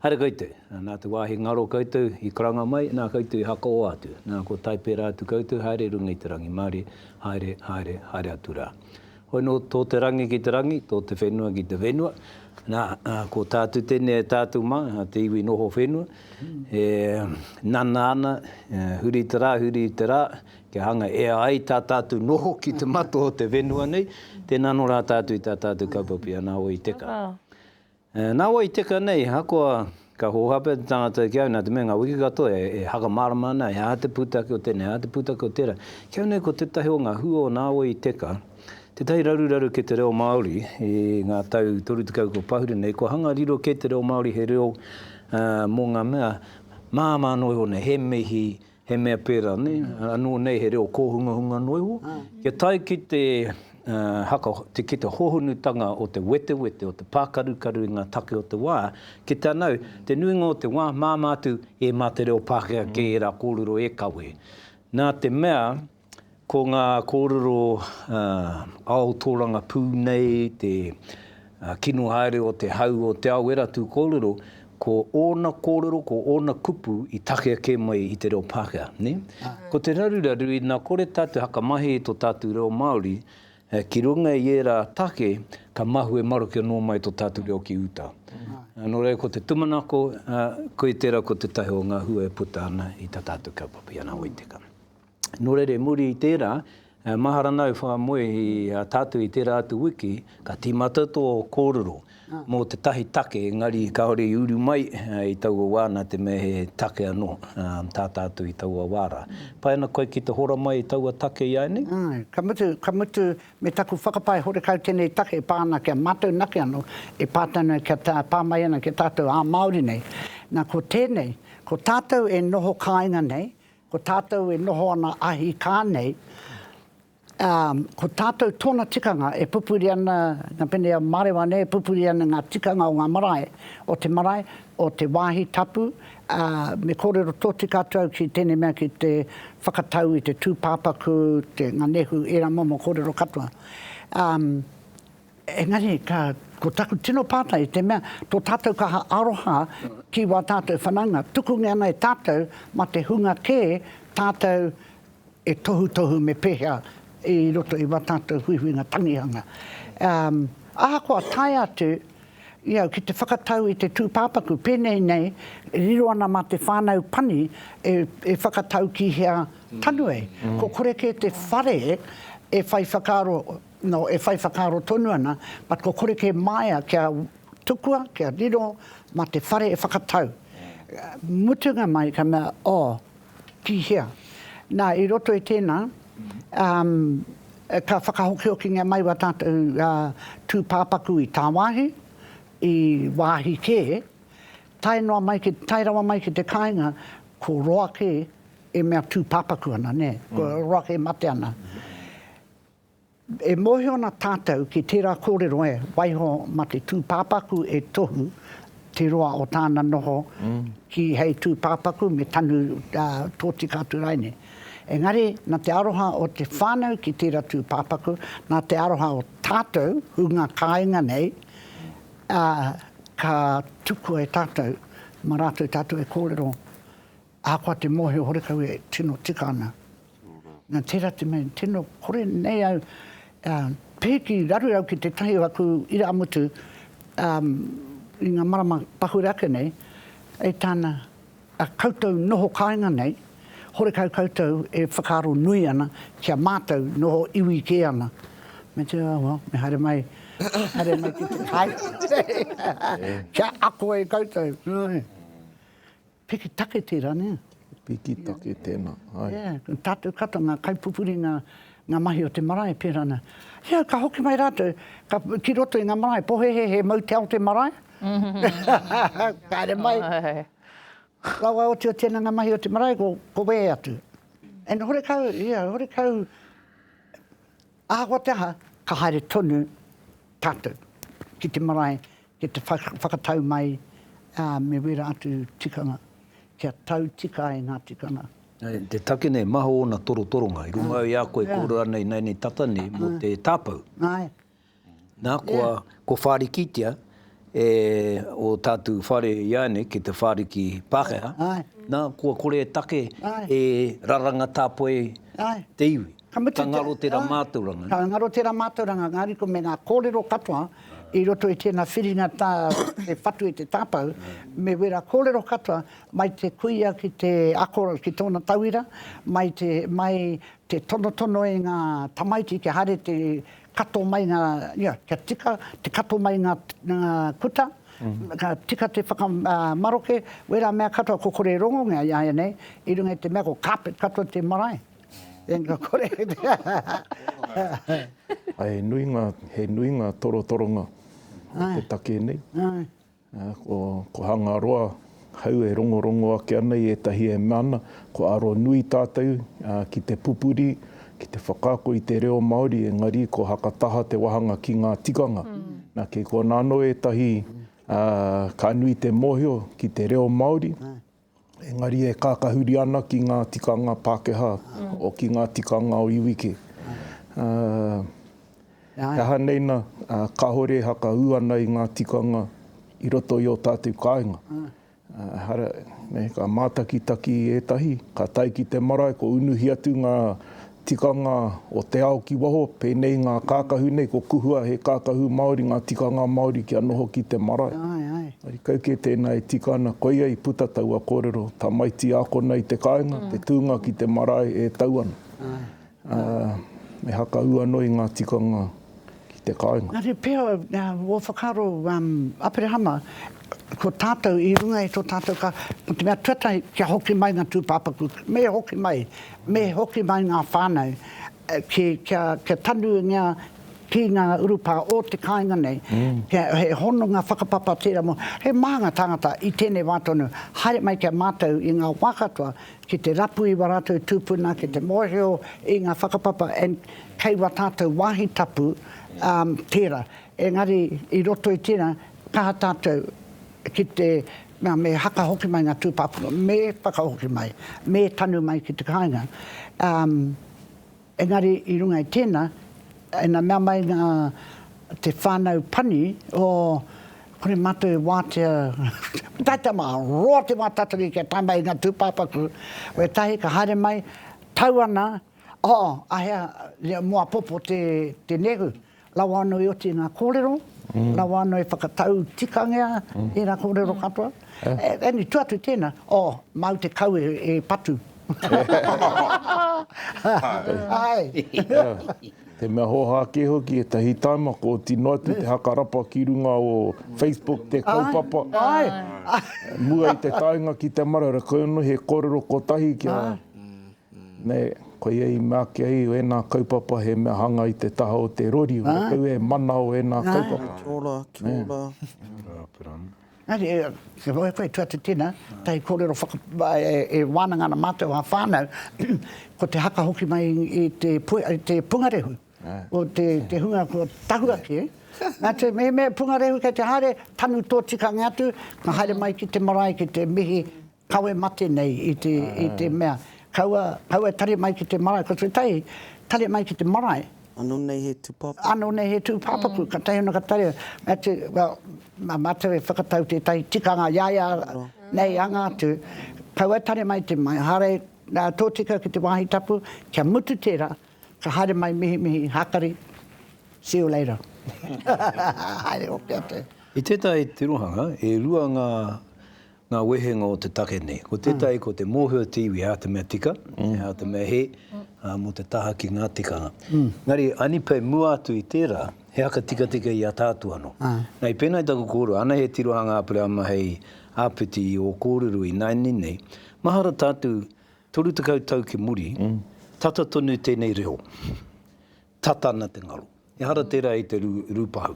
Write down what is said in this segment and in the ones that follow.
Haere koutou, nā te wāhi ngaro koutou i karanga mai, nā koutou i hakaoa atu, nā kua tae pērā atu koutou, haere i runga i te rangi Māori, haere, haere, haere atu rā. Hoi nō tō te rangi ki te rangi, tō te whenua ki te whenua, nā, ko tā atu tēnei e tātou mā, te iwi noho whenua, e nana ana, huri i te rā, huri i te rā, kia hanga, e ai tā tātou noho ki te mato o te whenua nei, tēnā anō rā tātou i tā tātou kaupapa i a Nāwai Te Kaa. E, nā wai teka nei, ahakoa ka hōhā pea te tangata ki au, nā te mea ngā wiki katoa e, e whakamārama ana, he aha te pūtake o tēnei, he aha te pūtake o tērā. Ki au nei ko tētahi o ngā hua o nā wai teka, tētahi raruraru ki te reo Māori i ngā tau 30 kua pahure nei, kua hanga riro kē te reo Māori he reo, ā, mō ngā mea māmā noa iho nei, he mihi, He mea pērā, nē, anō nei he reo kōhungahunga noa iho. Kia tae ki te haka, ki te hohonutanga o te wetewete, o te pākarukaru i ngā take o te wā, ki te anau, te nuinga o te wā, māmā atu, e mā te reo Pākehā kē ērā kōrero e kawe. Nā te mea. Ko ngā kōrero ao tōrangapū nei te kino haere o te hau o Te Aoeratū kōrero, ko ōna kōrero, ko ōna kupu i takea kē mai i te reo Pākehā. Ko te raruraru, ina kore tātou e whakamahi i tō tātou reo Māori, ki runga i ērā take ka mahue maroke anō mai tō tātou reo ki uta. Nō reira, ko te tumanako, koia tērā ko tētahi o ngā hua e puta ana i tā tātou kaupapa i ana wai tekau. Nō reira i muri i tērā, e mahara ana au whakamoe i a tātou i tērā atu wiki, ka tīmata tō kōrero mō tētahi take engari kāore i uru mai i taua wā nā te mea he take anō tā tātou i taua wā rā. Pai ana koe ki te hora mai i taua take iāinei? Āe, ka mutu, ka mutu me taku whakapae horekau tēnei take e pā ana ki a mātou nake anō, e pā tonu ai kia pā mai ana ki a tātou ā-Māori nei. Nā, ko tēnei, ko tātou e noho kāinga nei, Ko tātou e noho ana ahi kā nei, ā, ko tātou tōna tikanga e pupuri ana, ngā pēnei a Mārewa nei, e pupuri ana ngā tikanga o ngā marae, o te marae, o te wāhi tapu, ā, me kōrero tōtika atu au ki tēnei mea, ki te whakatau i te tūpāpaku, te nganehu, ērā momo kōrero katoa. Ā. Engari, ka, ko taku tino pātai i te mea, tō tātou kaha aroha ki wā tātou whanaunga, tukungia ana e tātou mā te hunga kē tātou e tohutohu me pēhea i roto i wā tātou huihuinga tangihanga. Um, ahakoa tae atu, i au ki te whakatau i te tūpāpaku, pēnei nei, riro ana mā te whānau pani e, e whakatau ki hea tanu ai. Ko kore kē te whare e whai whakaaro No, e whai whakaaro tonu ana, but ko kore kē māia kia tukua, kia riro mā te whare e whakatau. Mutunga mai ka mea, oh, tihea. Nā, i roto i tēnā, um, ka whakahokihokingia mai wā tātou uh, tūpāpaku i tāwāhi, i wāhi kē, tae, noa mai ki, tae rawa mai ki te kāinga, ko roa kē e mea tūpāpaku ana, nē, ko roa kē e mate ana. E mōhio ana tātou ki tērā kōrero e, waiho mā te tūpāpaku e tohu te roa o tāna noho ki hei tūpāpaku me tanu tōtika atu rāi nei. Engari, nā te aroha o te whānau ki tērā tūpāpaku, nā te aroha o tātou hunga kāinga nei, ka tukua e tātou mā rātou tātou e kōrero Ahakoa te mōhio horekau e tino tika ana, nā tērā te mea i tino kore nei au e pēhi ki raru au ki tētahi o aku irāmutu i ngā marama pahure ake nei, e tāna, a koutou noho kāinga nei, horekau koutou e whakaaro nui ana ki a mātou noho iwi kē ana. Me te, oh well, me haere mai, haere mai ki te kai, kia ako e koutou. Piki take tērā, nē? Piki take tēnā, āe. Ē, tātou katoa ngā kaipupuri, ngā, ngā mahi o te marae, pērā ana. Ia, ka hoki mai rātou, ka, ki roto i ngā marae, pohehe, he mau te ao te marae. Kāre mai. Ka waiotiotia ana ngā mahi o te marae, ko, ko wehe atu. And horekau, ia, horekau, Ahakoa te aha, ka haere tonu tātou ki te marae ki te whakatau mai me wērā atu tikanga kia tau tika ai ngā tikanga. Te take nei, maha ōna torotoronga i runga i a koe e kōrero ana ināianei tata nei mō te tāpau. Āe. Na, kua, kua whārikitia e o tātou whare iāianei ki te whāriki Pākehā, na, kua kore e take e raranga tāpoi te iwi. Ka ngaro tera mātauranga. Ka ngaro tera mātauranga, engari ko me ngā kōrero katoa i roto i tēnā whiringa tā te whatu i te tāpau, me wera kōrero katoa mai te kuia ki te ako, ki tōna tauira, mai te, mai te tonotono i ngā tamaiti kia haere te, kato mai nga, ia, kia tika te kato mai nga kuta, ka tika te whakamaroke, wera mea katoa, ko kore e rongongea iaianei, i runga i te mea ko carpet katoa te marae. Engari kore. He nui nga, he nui nga torotoronga o te take nei. Ko Hangaroa, hau e rongorongo ake ana i ētahi e mea ana, kua aro nui tātou ki te pupuri, ki te whakaako i te reo Māori, engari ko Hakataha te wāhanga ki ngā tikanga. Nā, kei konā anō ētahi ka nui te mōhio ki te reo Māori. Engari e kākahuri ana ki ngā tikanga Pākehā, ki ngā tikanga o iwi kē. He aha nei nā, kāore e hakaū ana i ngā tikanga i roto i ō tātou kāinga. Ehara, ka mātakitaki ētahi, ka tae ki te marae, kua unuhi atu ngā Tikanga o te ao ki waho, pēnei i ngā kākahu nei, ko Kuhua he kākahu Māori, ngā tikanga Māori kia noho ki te marae. Engari kau kē tēnā e tika ana, koia i puta taua kōrero, tamaiti ākona i te kāinga, te tūnga ki te marae e tau ana. Me haka ū anō i ngā tikanga ki te kāinga. Engari pea, ua whakaaro a Aperehama, ko tātou i runga i tō tātou ka, mō te mea tuatahi, kia hoki mai ngā tūpāpaku, me hoki mai, me hoki mai ngā whānau, kia tanuingia ki ngā urupā o te kāinga nei, he hononga whakapapa tērā mō, he maha ngā tāngata i tēnei wā tonu, haere mai ki a mātou i ngā wā katoa, Ki te rapu i wa ratou tupuna ki te mohio i nga whakapapa and kei wa tatou wahi tapu um tera engari i roto i tera kaha tatou ki te nga me haka hoki mai nga tupapuro me whakahoki mai me tanu mai ki te kainga um. Engari i runga i tēnā, ina mea mai ngā, te whānau pani, oh, kore mātou e wātea, tata mā, roa te wā tatari kia tae mai i ngā tūpāpaku, wētahi ka haere mai, tau ana, oh, ahea, reo mō apopo te, te nehu. Rawa ano i oti nga korero, rawa ano e whakatau tikangea i nga korero katoa. Eni, tu atu tena, oh, mau te kau e patu. Ae. Te mea hoha ke hoki, etahi taima ko tino atu te haka rapa ki runga o Facebook te kaupapa. Ae. Mua i te taenga ki te marara, koia no he korero kotahi kia. Nē, koia i mea ake ai ēnā kaupapa he mea hanga i te taha o te rori, ora kau e mana o ēnā kaupapa. Kia ora, kia ora. Engari, kia roa e koe, tua te tena, tahi kōrero whaka, e wānanga ana mātou ā whānau, ko te haka hoki mai i te pungarehu, o te hunga kua tahu ake, nā te mea pungarehu kei te haere, tanu tō tikanga atu, ka haere mai ki te marae ki te mihi, Kawe mate nei i te, i te mea, kaua, kaua e tare mai ki te marae, ko tētahi, tare mai ki te marae. Ano nei he tūpāpaku. Ano nei he tūpāpaku, ka taea ana ka tare, mea te, well, ma mātou e whakatau tētahi tikanga i a ia nei anga atu, kaua e tare mai te marae, hare, tōtika ki te wāhi tapu, kia mutu tērā, ka haere mai mihi mihi, hākari, see you later. Haere hoki atu. I tētahi tirohanga, e rua ngā Ngā wehenga o te take nei. Ko tētahi ko te mōhio te iwi hā te mea tika, hā te mea hē, mō te taha ki ngā tikanga. Engari, Anipei mua atu i tērā, he haka tikatika i a tātou anō. Nei, pēnei taku kōrero, ānei he tirohanga Aperēama hei āpiti i ō kōrero i nāianei nei, mahara tātou 30 tau ki muri, tata tonu tēnei reo. Tata ana te ngaro. Ehara tērā i te rūpahu.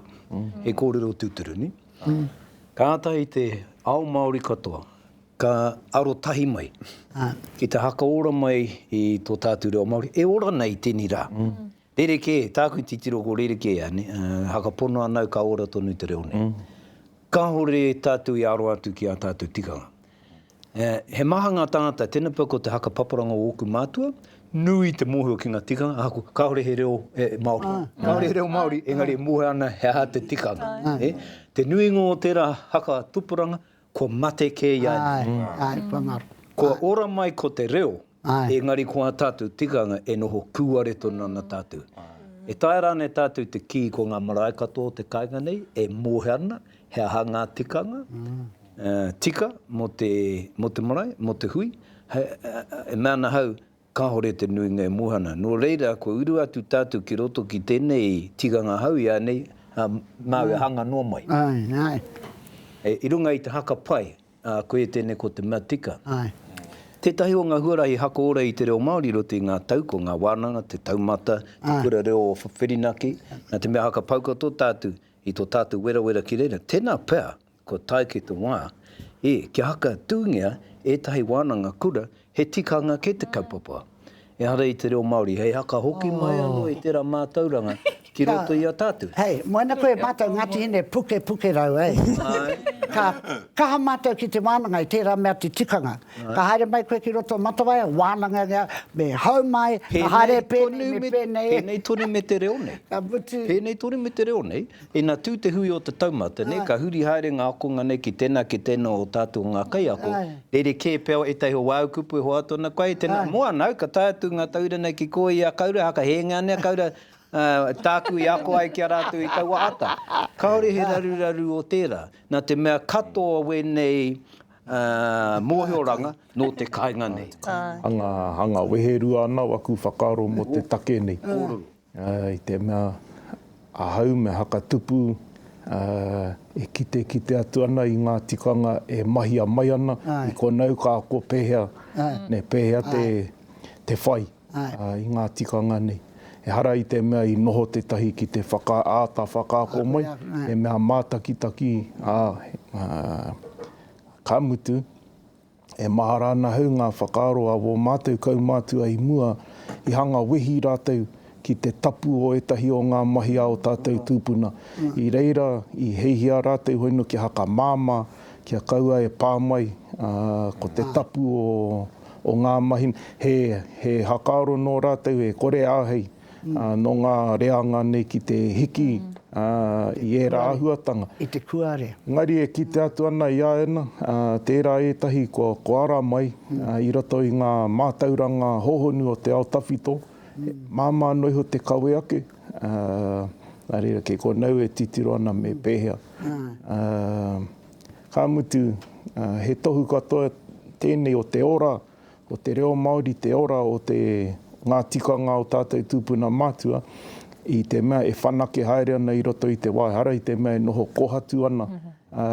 He kōrero tūturu, nē? Kātahi i te ao Māori katoa ka arotahi mai ki te hakaora mai i tō tātou reo Māori, e ora nei tēnei rā. Rerekē, tāku titiro ko rerekē ia, nē? Hakapono ana au ka ora tonu te reo nei. Kāore tātou i aro atu ki ā tātou tikanga. He maha ngā tāngata, tēnei pea ko te haka paparanga o ōku mātua, nui te mōhio ki ngā tikanga, ahaku, kāore he reo Māori, kāore he reo Māori, engari e mōhio ana he aha te tikanga. Te nuinga o tērā haka tupuranga, kua mate kē i a ia. Kua ora mai ko te reo. Engari ko ā tātou tikanga e noho kūare tonu ana tātou. E taea rānei tātou te kī ko ngā marae katoa o te kāinga nei e mōhio ana he aha ngā tikanga tika mō te, mō te marae, mō te hui? E mea ana ahau, kāore te nuinga e mōhio ana. Nō reira, kua uru atu tātou ki roto ki tēnei tikanga hou ianei, ā, māu e hanga noa mai. I runga i te haka pai, Ā, koe tēnei ko te mea tika. Āe. Tētahi o ngā huarahi hakoora i te reo Māori i roto i ngā tau, ko ngā wānanga, te taumata, te kura reo o Whirinaki, nā te mea haka pauka tō tātou i tō tātou werawera ki reira. Tēnā pea, kua tae ki te wā, ē, kia haka tūngia ētahi wānanga kura He tikanga kē te kaupapa, ehara i te reo Māori, hei haka hoki mai anō i tērā mātauranga ki roto i a tātou. Hei, moana koe mātou Ngāti Hine pukepukerau, hei. Ka kaha mātou ki te wānanga i tērā mea te tikanga. Ka haere mai koe ki roto o Matawaia, wānangangia, me hau mai, me haere pēnei, me pēnei. Pēnei tonu me te reo nei. Ka mutu. Pēnei tonu me te reo nei. Ina tū te hui o te taumata, nē, ka huri haere ngā akonga nei ki tēnā, ki tēnā o tātou ngā kaiako, rerekē pea o ētahi o wāu kupu e hoatu ana koe, hei tēnā, moana au, ka tae atu ngā tauira nei ki kō ia, kaura, haka hēnga nei, kaura, tāku i ako ai ki a rātou i taua ata. Kāore he raruraru o tērā, nā te mea katoa wēnei mōhioranga nō te kāinga nei. Hanga, hanga, wehe rua ana waku whakaaro mō te take nei. Kōrero. I te mea ahau me Hakatupu e kitekite atu ana i ngā tikanga e mahia mai ana i konau ka ako pēhea, pēhea te whai i ngā tikanga nei. Ehara i te mea i noho tētahi ki te āta whakaako mai, he mea mātakitaki, ā, ka mutu, E mahara ana hau ngā whakaaro a wō mātou kaumātua i mua, i hanga wehi rātou ki te tapu o ētahi o ngā mahi a ō tātou tūpuna. I reira, i heihia rātou hono kia hakamāmā, kia kaua e pā mai, ā, ko te tapu o ngā mahi, he, he hakaaro nō rātou e kore āhei. nō ngā reanga nei ki te hiki i ērā āhuatanga. I te kuare. Engari e kite atu ana i a Anna, tērā ētahi kua ara mai i roto i ngā mātauranga hōhonu o te ao tawhito, māmā noa iho te kawe ake, nā reira kē konau e titiro ana me pēhea. Ka mutu, he tohu katoa tēnei o te ora, Ko te reo Māori te ora o te, ngā tikanga o tātou tūpuna mātua, i te mea e whanake haere ana i roto i te waihara, i te mea e noho kōhatu ana, ā,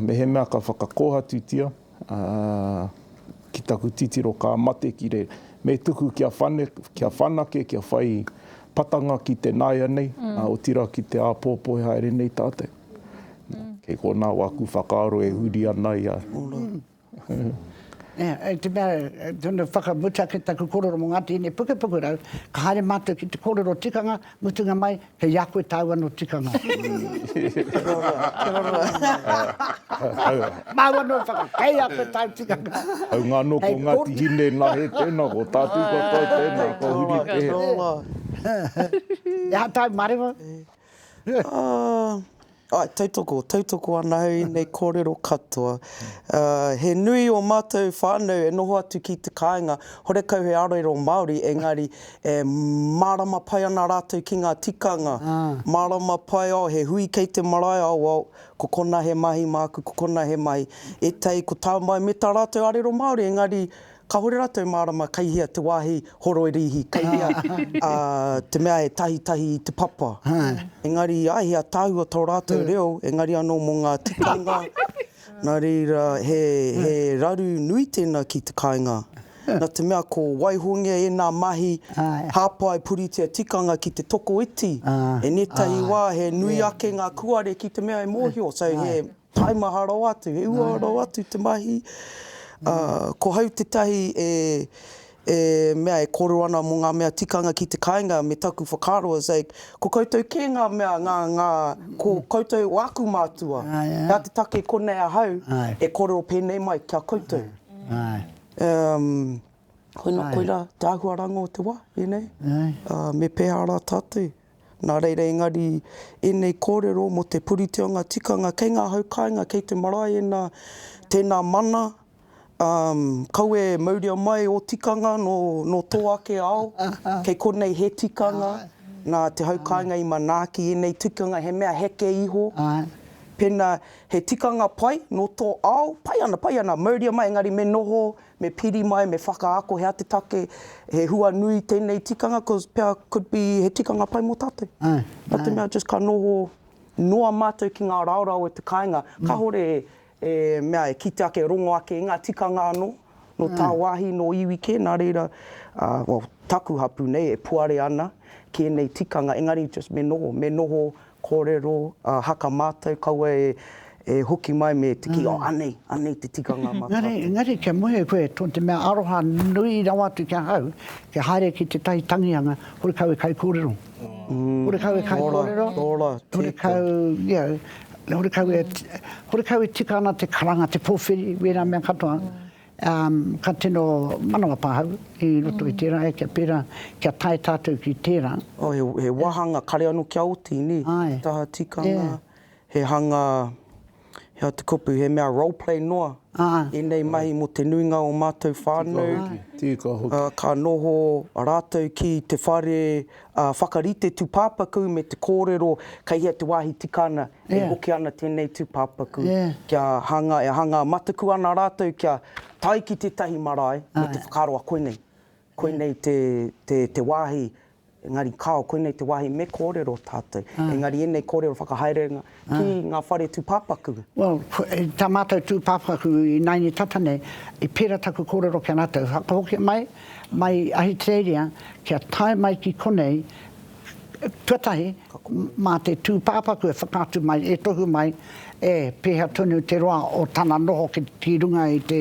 mehemea ka whakakōhatutia, ā, ki taku titiro ka mate ki re, me tuku kia whane, kia whanake, kia whai patanga ki te nāianei, ā, otirā ki te āpōpō e haere nei tātou. Nā, kei konā wāku whakaaro e huri ana i a. Hei te mea, tonu whakamutu ake taku korero mo ngā tēnei pukepuke rau, ka haere mātou ki te korero tikanga, mutunga mai, kei a koe tāu anō tikanga. Māu anō whaka, kei a koe tāu tikanga. Hau ngā anō ko Ngāti Hine nā hē tēnā, ko tātou katoa tēnā, ko Huri Pehe. E aha tāu marewa? Āe, tautoko, tautoko ana au i nei kōrero katoa. He nui o mātou whānau e noho atu ki te kāinga, horekau he arero Māori, engari e mārama pai ana rātou ki ngā tikanga, mārama pai, oh, he hui kei te marae, oh, well, ko konā he mahi māku, ko konā he mahi. Ētahi, ko tā mai me tā rātou arero Māori, engari Kahore ratou marama kei hea te wahi horoirihi, kei hea te mea e tahitahi i te papa. Engari i a hea tahua to ratou reo, engari ano mo nga tikanga, na reira he raru nui tena ki te kainga. Na te mea ko waihongia ena mahi hapai puritia tikanga ki te tokoiti, enetahi wa he nui ake nga kuare ki te mea e mohio, so he. Tae maha rawa atu, he uaua rawa atu te mahi. Ko hau tētahi e, e mea e kōrero ana mō ngā mea tikanga ki te kāinga, me taku whakaaro is like, ko koutou kē ngā mea, ngā, ngā, ko koutou o aku mātua. Nā te take konei ahau e kōrero pēnei mai ki a koutou. Um, koina, koirā te āhuaranga o te wā, you know. Me pēhā rā tātou. Nā reira engari ēnei kōrero mō te puritionga tikanga kei ngā hau kāinga, kei te marae ēnā, tēnā mana, umm, kaua e mauria mai ō tikanga nō, nō tō ake ao, kei konei he tikanga, nā te hau kāinga i manaaki ēnei tikanga he mea heke iho, pēnā he tikanga pai nō tō ao, pai ana, pai ana, mauria mai engari me noho Me piri mai, me whakaako he ati take, he hua nui tenei tikanga cos pea could be he tikanga pai mo tatou. No te mea just ka noho noa matou ki nga raorao o te kainga, kahore e mea e kite ake e rongo ake i nga tikanga ano, no tawahi, no iwi ke, na reira well taku hapu nei e puare ana ki enei tikanga engari just me noho, me noho Kōrero, ā, haka mātou, kaua e hoki mai me te kī, oh, anei, anei te tikanga mā tātou. Engari, engari kia muhe koe, nō te mea aroha nui rawa atu ki ahau, kia haere ki tētahi tangianga, horekau e kaikōrero. Horekau e kaikōrero, horekau, you know, horekau e, horekau e tika ana te karanga, te pōwhiri, wēnā mea katoa. Ka tino manawa pahau i roto i tērā e kia pērā, kia tae tātou ki tērā. He wāhanga kare anō kia oti, nē? He taha tikanga, he hanga, he aha te kupu, he mea role play noa ēnei mahi mō te nuinga o mātou whānau. Ka noho rātou ki te whare whakarite tūpāpaku me te kōrero kei hea te wāhi tika ana E hoki ana tēnei tūpāpaku kia hanga, e hanga mataku ana rātou kia tae ki tētahi marae me te whakaaro a koinei, koinei te wāhi, engari kāo, koinei te wāhi me kōrero tātou. Engari ēnei kōrero whakahaerenga ki ngā whare tūpāpaku. Well, tā mātou tūpāpaku ināianei tata nei, i pērā taku kōrero ki a rātou, whakahokia mai, mai Ahitereiria, kia tae mai ki konei, Tuatahi, mā te tūpāpaku e whakaatu mai, e tohu mai, e pēhea tonu te roa o tana noho ki runga i te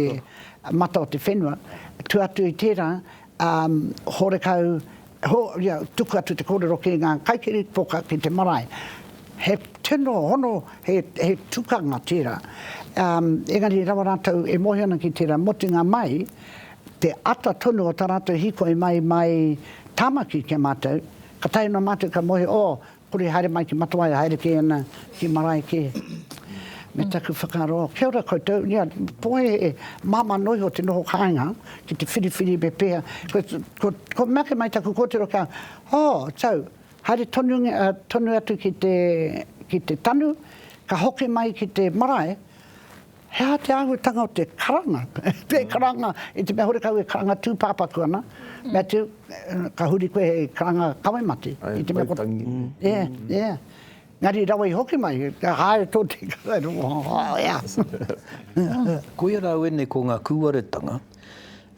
mata o te whenua. Tua atu i tērā, horekau, tuku atu te kōrero ki ngā kaikirīpoka ki te marae. He tino hono, he tukanga tērā. Engari rawa rātou e moe ana ki tērā, motunga mai, te ata tonu o tā rātou hīkoi mai mai Tāmaki ki a mātou, ka taea noa mātou ka moe, oh, kore haere mai ki Matawai, haere kē ana ki marae kē. Me taku whakaaro, oh, kia ora koutou, ia, ko he māmā noa iho te noho kāinga ki te whiriwhiri me pēhea, kua mea mai taku kōtiro kia, oh, tau, haere tonu, tonu atu ki te, ki te tanu, ka hoki mai ki te marae, He aha te āhuatanga o te karanga? Tē karanga i te mea horekau e karanga tūpāpaku ana. Matthew, ka huri koe hei karanga kawe mate. Ae, Waitangi. Ē, ē. Engari rawa i hoki mai, ka haere tō te karaero. Koia rā au ēnei ko ngā kūaretanga.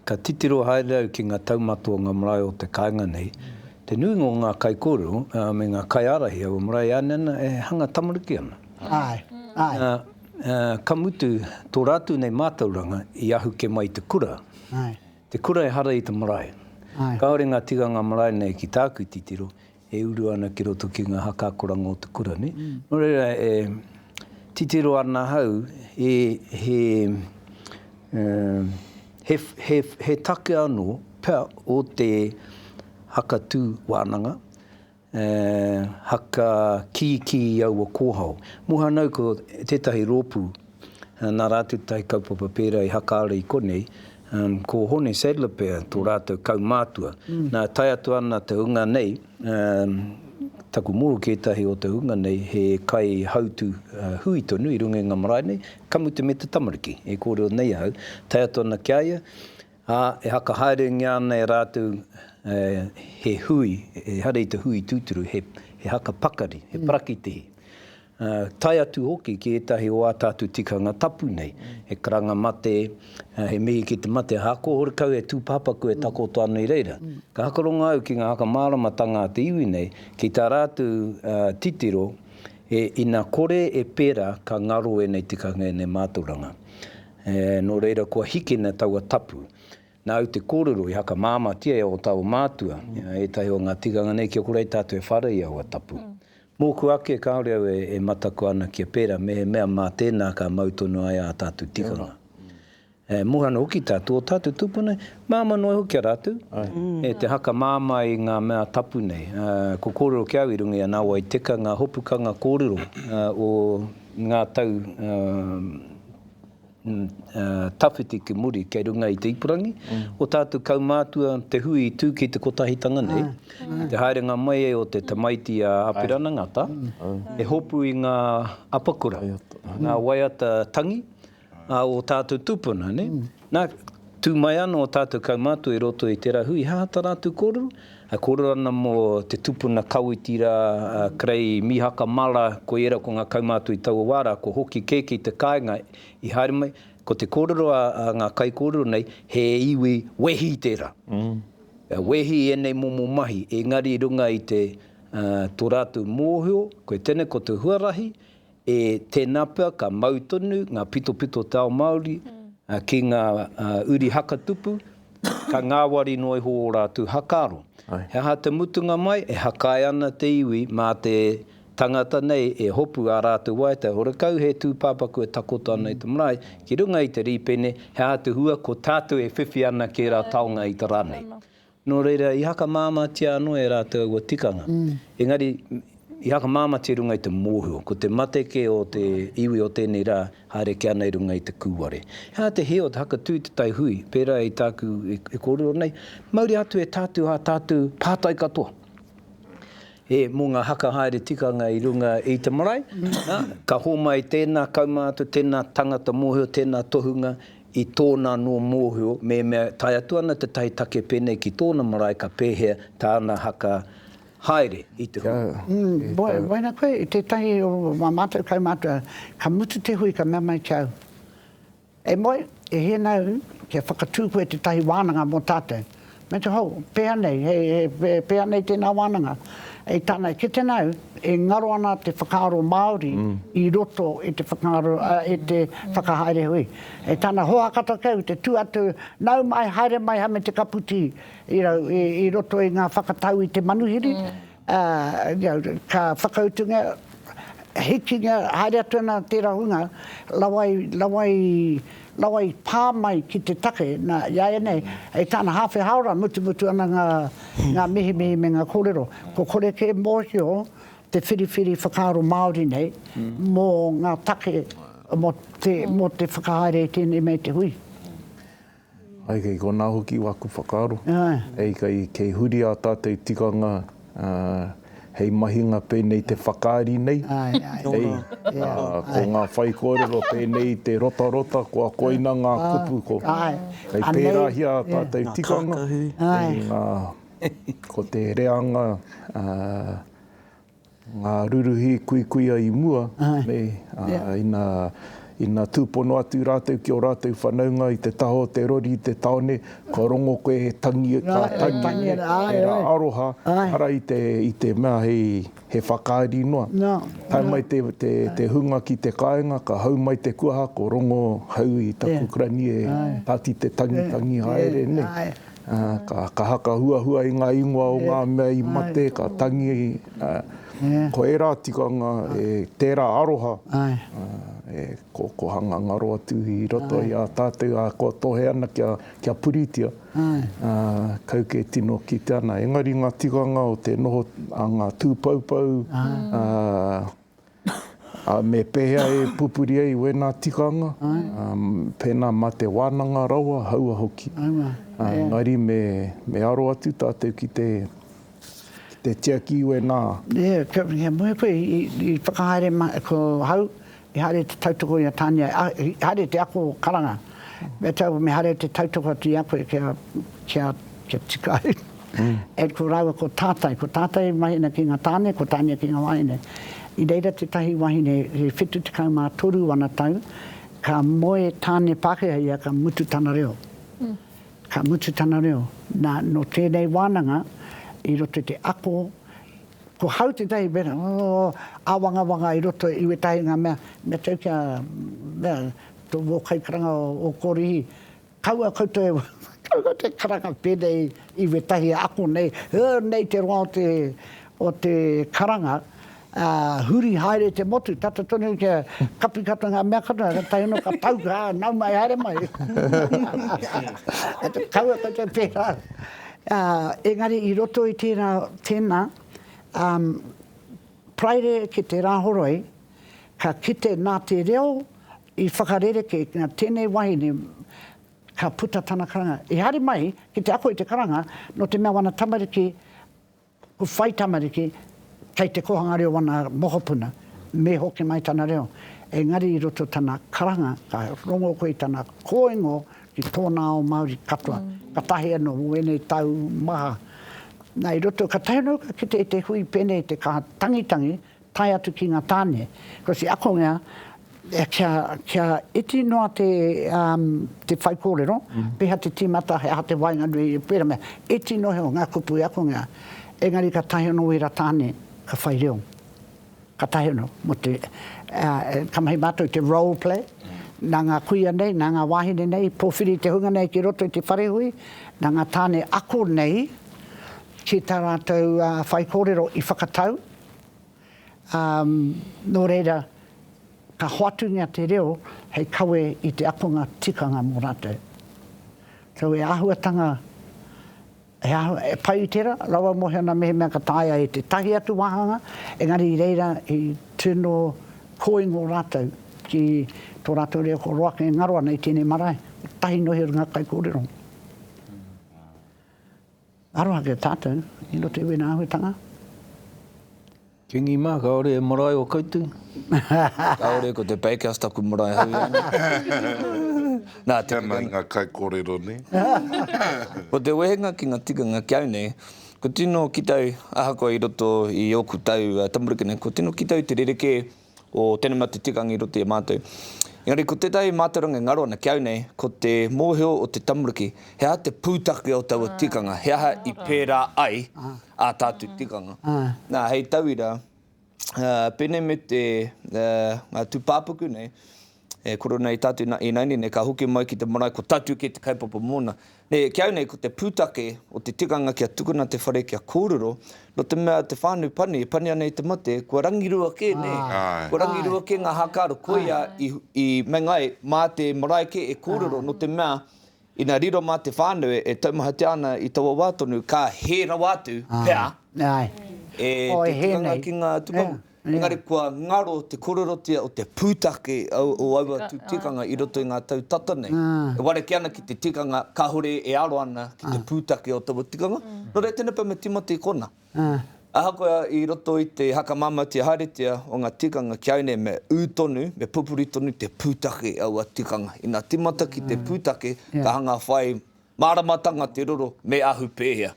Ka titiro haere au ki ngā taumata o ngā marae o te kāinga nei. Te nuinga o ngā kaikōrero me ngā kaiārahi o marae e ānena e hanga tamariki ana. Āe, āe. Ka mutu, tō rātou nei mātauranga i ahu kē mai i te kura. Te kura ehara i te marae. Kāore ngā tikanga marae nei ki tāku titiro, e uru ana ki roto ki ngā haka akoranga o te kura nei. Nō reira, e titiro ana ahau, he take anō pea o te haka tū wānanga, E haka kīkī i aua kōhao. Mohanau ko tētahi rōpū nā rātou tahi kaupapa pērā i haka ara i konei, ko Hone Sadler pea tō rātou kaumātua. Nā, tae atu ana te hunga nei, taku mōhio ki ētahi o te hunga nei he kaihautū hui tonu i runga i ngā marae nei, ka mutu me te tamariki e kōrero nei ahau, tae atu ana ki a ia, Ā, e hakahaerengia ana e rātou he hui, ehara i te hui tūturu, he, he haka pakari, he parakitihi, ā, tae atu hoki ki ētahi o ā tātou tikanga tapu nei, he karanga mate, he mihi ki te mate, ā, ko horekau he tūpāpaku e takoto ana i reira. Ka hakarongo au ki ngā whakamāramatanga a te iwi nei, ki tā rātou titiro, e, ina kore e pērā ka ngaro ēnei tikanga, ēnei mātauranga. Ē, nō reira kua hikina taua tapu. Nāu te kōrero i hakamāmatia e ō tāua mātua, i a ētahi o ngā tikanga nei kia kore ai tātou e whara i aua tapu. Mōku ake kāore au e mataku ana kia pērā mehemea mā tēnā ka mau tonu ai ā tātou tikanga. E moe ana hoki tātou, ō tātou tūpuna nei, māmā noa iho ki a rātou, e te hakamāmā i ngā mea tapu nei. Ā, kua kōrero ki au i runga i a Nāwai Teka ngā hopukanga kōrero o ngā tau tawhiti ki muri kei runga i te ipurangi, o tātou kaumātua te hui i tū ki te kotahitanga nei, i te haerenga mai o te tamaiti a Apirana Ngata, e hopu i ngā apakura, ngā waiata tangi o tātou tūpuna. Na, tu mai ano o tatou kaumātua i roto i tera hui hahata rātou kōrero, e kōrero ana mo te tupuna Kawiti ra, a Krei Mihaka Mara, ko era ko nga kaumātua i taua wā ra, ko Hoki Keke i te kāinga i haere mai, ko te kōrero a nga kaikōrero nei, he iwi wehi tera, wehi enei momo mahi, engari i runga i te to rātou mōhio, koe tēnei ko te huarahi, E tēnā pea ka mau tonu ngā pitopito o te ao Māori ki ngā uri haka tupu, ka ngāwari noa iho ō rātou haka aro. He aha te mutunga mai? E hakae ana te iwi mā te tangata nei e hopu ā rātou waiata, horekau he tūpāpaku e takoto ana i te marae, ki runga i te rīpene, he aha te hua? Ko tātou e whiwhi ana ki ērā taonga i te rā nei. Nō reira, i hakamāmātia anō e rātou aua tikanga, engari i hakamāmātia i runga i te mōhio, ko te mate kē o te iwi o tēnei rā, haere kē ana i runga i te kūware. He aha te hē o te hakatū i te tai hui, pērā i tāku e kōrero nei? Mauri atu e tatū ā tātou pātai katoa, e, mō ngā haka haere tikanga i runga i te marae, nā, ka hōmai tēnā kaumātua, tēnā tangata mōhio, tēnā tohunga i tōna anō mōhio mehemea tae atu ana tētahi take pēnei ki tōna marae ka pēhea tāna haka haere i te hui. Waiana koe i tētahi o ā mātou kaumātua, ka mutu te hui ka mea mai ki a au, E moe, e hē nā au kia whakatū koe tētahi wānanga mō tātou. Me te hou, pēhea nei, he, he, pēhea nei tēnā wānanga. I tāna e kite nāu, e ngaro ana te whakaaro Māori mm. i roto i te whakaaro, uh, i te whakahaere hui. E tāna hoa katoa keu, te tū atu, nau mai, haere mai hame te kaputi i, rau, i, i roto i ngā whakatau i te manuhiri, mm. Ā, ka whakautungia, hikingia, haere atu ana tērā hunga, rawa i, rawa i, rawa i pā mai ki te take. Nā, iāianei, hei tāna hāwhe hāora, mutumutu ana ngā, ngā mihimihi me ngā kōrero. Kua kore kē mōhio te whiriwhiri whakaaro Māori nei mō ngā take, mō te, mō te whakahaere i tēnei me te hui. Ai, kei konā hoki aku whakaaro. Hei, kei huri ā tātou tikanga hei mahinga pēnei te whakaari nei. Hei, ko ngā whaikōrero pēnei i te rotarota, kua koina ngā kupu, ko. Hei pērāhia ā tātou tikanga, ko te reanga. Ngā ruruhi kuikuia i mua, nei, ina tūpono atu rātou ki ō rātou whanaunga i te taha o te rori i te tāone, kua rongo koe he tangi, ngā tangi, he rā aroha, ara i te, i te mea hei, he whakaari noa. Tae mai te, te, te hunga ki te kāinga, ka hau mai te kuaha, ko Rongo hau i taku kurani e Tati te tangi, tangi haere, nē. Ka kaha, ka huahua i ngā ingoa o ngā mea i mate, ka tangi, ko ērā tikanga, tērā aroha e kokohanga ngaro atu i roto i a tātou, ā, kua tohe ana kia puritia, kau kē tino kitea ana. Engari ngā tikanga o te noho a ngā tūpoupou, Ā, me pēhea e pupuri ai wēnā tikanga, ā, pēnā mā te wānanga rawa, haua hoki. Ā, engari me, me aro atu tātou ki te, ki te tiaki i wēnā. Ia, kia muhe koe, i, i whakahaere ma, ko hau, i haere te tautoko i a Tania, a, i haere te ako karanga. Me tau, me haere te tautoko atu i a koe kia, kia, kia tika ai. e ko rāua ko tātai, ko tātai e mahina ki ngā tāne, ko tāne ki ngā wāhine. I reira tētahi wāhine e 73 ana tau, ka moe tāne Pākehā ia ka mutu tana reo. Ka mutu tana reo. Nā, nō tēnei wānanga, i roto i te ako, ko hau tētahi mera, oh, āwangawanga i roto i wētahi ngā mea, me tau kia, mea, tō wō kaikaranga o Kōrihi, Kaua koutou e whakaaro te karanga pēnei i wētahi ako nei, ē, nei te roa o te karanga, ā, huri haere te motu, tata tonu kia kapi katoa ngā mea katoa, ka tae noa, ka pau, ā, nau mai, haere mai. Kaua koutou e pērā. Ā, engari i roto i tērā, tēnā, ā, Paraire ki te Rāhoroi, ka kite nā te reo, I whakarerekē tēnei wahine ka puta tana karanga. I haere mai ki te ako i te karanga nō te mea wana tamariki ko whai tamariki kei te kōhanga reo wana mokopuna, me hoki mai tana reo. Engari i roto tana karanga ka rongo koe i tana kōingo ki tōna ao Māori katoa, katahi anō mō ēnei tau maha. Na, i roto, ka tae noa ki te hui pēnei te kaha tangitangi, tae atu ki ngā tāne, ko te akonga kia, kia iti noa te, um, te whaikōrero, pēhea te tīmata, he aha te waenganui, pērā mea, iti noa iho ngā kupu i akonga, engari ka taea anō ērā tāne ka whai reo, ka taea anō, mō te, uh, ka mahi mātou i te role play, nā ngā kuia nei, nā ngā wāhine nei, i pōwhiri i te hunga nei ki roto i te whare hui, nā ngā tāne ako nei ki tā rātou, uh, whaikōrero i whakatau, ā, nō reira, ka hoatungia te reo hei kawe i te akonga tikanga mō rātou. So, he āhuatanga, he āhua, e pai i tērā, rawa mō Heona mehemea ka taea e tētahi atu wāhanga, engari i reira i tū noa kōingo rātou ki tō rātou reo kua roaka e ngaro ana i tēnei marae, kotahi noa i runga kaikōrero. Aroha ki a tātou i roto i wēnā āhuatanga. Kingi mā, kāore he marae o koutou? Kāore, ko te bakehouse taku marae hou i a nei. Nā, te. Tēnā i ngā kaikōrero nei. Ko te wehenga ki ngā tikanga ki au nei, kua tino ki tau, ahakoa i roto i ōku tau tamariki nei, kua tino ki tau te rerekē o tēnei mate tikanga i roto i a mātou. Engari ko tētahi mātauranga e ngaro ana ki au nei, ko te mōhio o te tamariki, he aha te pūtake o taua tikanga, he aha i pērā ai ā tātou tikanga. Nā, hei tauira, pēnei me te, ngā tūpāpaku nei, e koro nei Tatu, na, inaini nei ka hoki mai ki te marae ko Tatu kē te kaupapa mōna. Nē, ki au nei ko te pūtake o te tikanga kia tukuna te whare kia kōrero, nō te mea te whānau pani e pani ana i te mate, kua rangirua kē, nē? Kua rangirua kē ngā hākaro, koia i, i meinga ai mā te marae kē e kōrero, nō te mea Ina riro mā te whānau e taumahatia ana i taua wā tonu, ka hē rawa atu pea e te tikanga ki ngā tūpāpaku. Engari kua ngaro te kōrerotia o te pūtake o aua tū tikanga i roto i ngā tau tata nei. E ware kē ana ki te tikanga kāore e aro ana ki te pūtake o taua tikanga. Nō reira, tēnei pea me Timoti konā. ā. Ahakoa i roto i te hakamamatia haeretia o ngā tikanga ki a au nei me ū tonu, me pupuri tonu te pūtake i aua tikanga. Ina tīmata ki te pūtake, ka hanga whai māramatanga te roro me ahu pēhea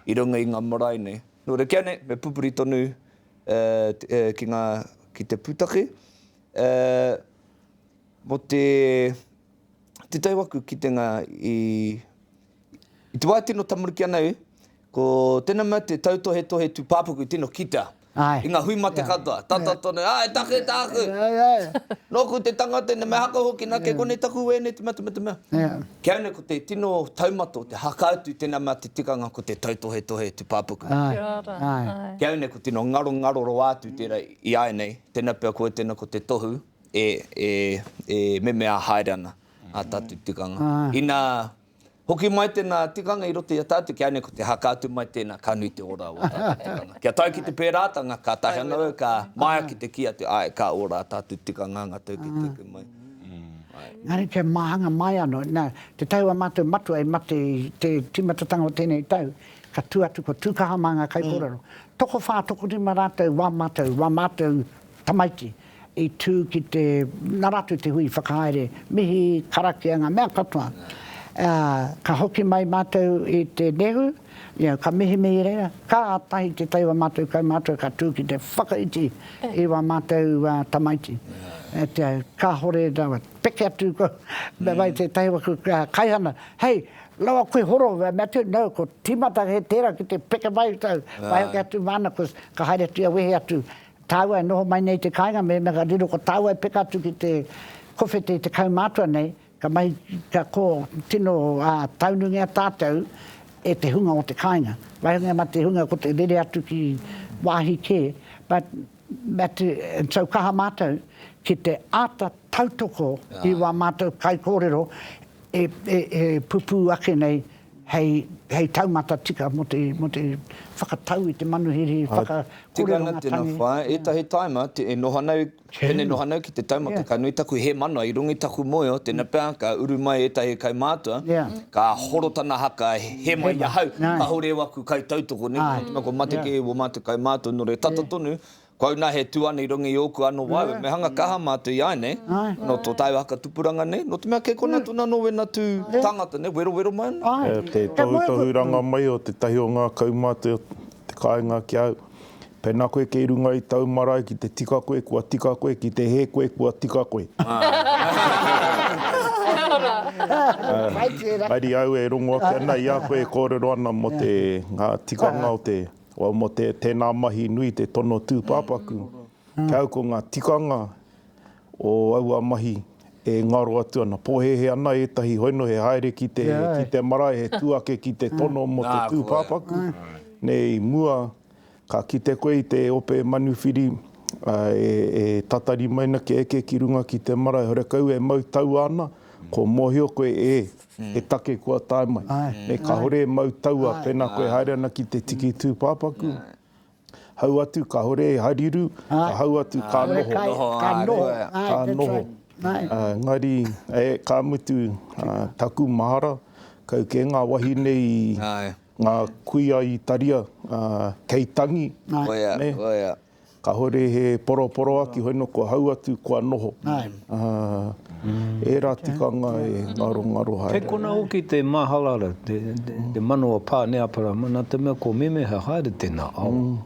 i runga i ngā marae nei. Nō reira ki a au nei, me pupuri tonu ki ngā, ki te pūtake mō te titaiwaku kitenga i te wā e tino tamariki ana au, Ko tena mea te tautohetohe tupapaku tino kita i nga hui mate katoa, tata tonu, a, e take taku! Noku te tangata ina me haka hoki na ke kone taku wene te mate mate mea. Kei ana ko te tino taumata o te haka atu tena mea te tikanga ko te tautohetohe tupapaku. Kei au nei ko tino ngaro ngaro roa atu tera i a enei, tena pea koe tena ko te tohu e memea haere ana a tatu tikanga. Ina Hoki mai tēnā tikanga i roto i a tātou, kia nui ko te haka atu mai tēnā, ka nui te ora o ō tātou tikanga. Kia tae ki te pērātanga, kātahi anō au ka māia ki te kī atu, āe, ka ora ā tātou tikanga anga tautekiteke mai. Engari kia māhanga mai anō, nā, te tau a mātou matua i mate i te tīmatatanga o tēnei tau, ka tū atu ko Tūkaha mā ngā kaikōrero. Tokowhā, tokorima rātou wā mātou, wā mātou tamaiti. i tū ki te Naratu te hui whakahaere, mihi, karakia, ngā mea katoa. Ā, ka hoki mai mātou i te Nehu, ia, ka mihimihi i reira, kātahi te tai o ā mātou kaumātua ka tū ki te whakaiti i wā mātou tamaiti. Ā, kāhore rawa, peke atu ko, me wai tētahi o aku kaihana, hei, rawa koe horo, me atu, no, ko tīmata he tērā ki te peke mai, wai hoki atu māna, ka haere atu ia wehe atu, Tāua e noho mai nei i te kāinga, mēnā ka riro ko tāua e peka atu ki te kowhete i te kaumātua nei, ka mahi, ka kō tino taunungia tātou e te hunga o te kāinga. Wāhine mā te hunga ko te rere atu ki wāhi kē, but, and so kaha mātou ki te āta tautoko i wā mātou kaikōrero e pupū ake nei hei, hei taumata tika mō te, mō te whakatau i te manuhiri whakakōreronga tangi. Tika ana tēnā whaea, ētahi taima e noho ana, pēnei noho ana ki te taumata, ka nui taku hēmanawa i runga i taku moeo, tēnā pea ka uru mai ētahi kaumātua, ka horo tana haka he mai i ahau, kāore au aku kaitautoko, nē, ko Matike, wō mātou kaumātua, nō reira, tata tonu, Koau na he tu ana i runga i oku ano waewae, me hanga kaha matou i aenei, no to taua haka tupuranga nei, no te mea kei kona atu nano wena tu tangata nei, werowero mai ana. Te tohutohuranga mai o tetahi o nga kaumate o te kainga ki au, pena koe kei runga i tau marae ki te tika koe kua tika koe, ki te he koe kua tika koe. Mairi au e rongo ake ana i a koe e korero ana mo te nga tikanga o te Wau mo te tena mahi nui te tono tupapaku ki au ko nga tikanga o aua mahi e ngaro atu ana. Pohehe ana etahi hoino he haere ki te ki te marae he tu ake ki te tono mo te tupapaku nei i mua ka kite koe i te ope manuwhiri e tatari mai na kia eke ki runga ki te marae horekau e mau taua ana ko mohio koe e He take kua tae mai. Me kahore e mau taua pena koe haere ana ki te tiki tupapaku. Hau atu kahore e hariru, ka hau atu ka noho. Ka noho, ka noho. Ka noho. Engari, ka mutu, taku mahara, kau ke nga wahine i nga kuia i taria kei tangi. Koia, koia. Kahore he poroporoaki hoi no kua hau atu kua noho. Era tikanga e ngaro ngaro haere. Kei kona hoki te mahalara, te mano a Pa Neaparama, na te mea ko Memeha haere tena awa.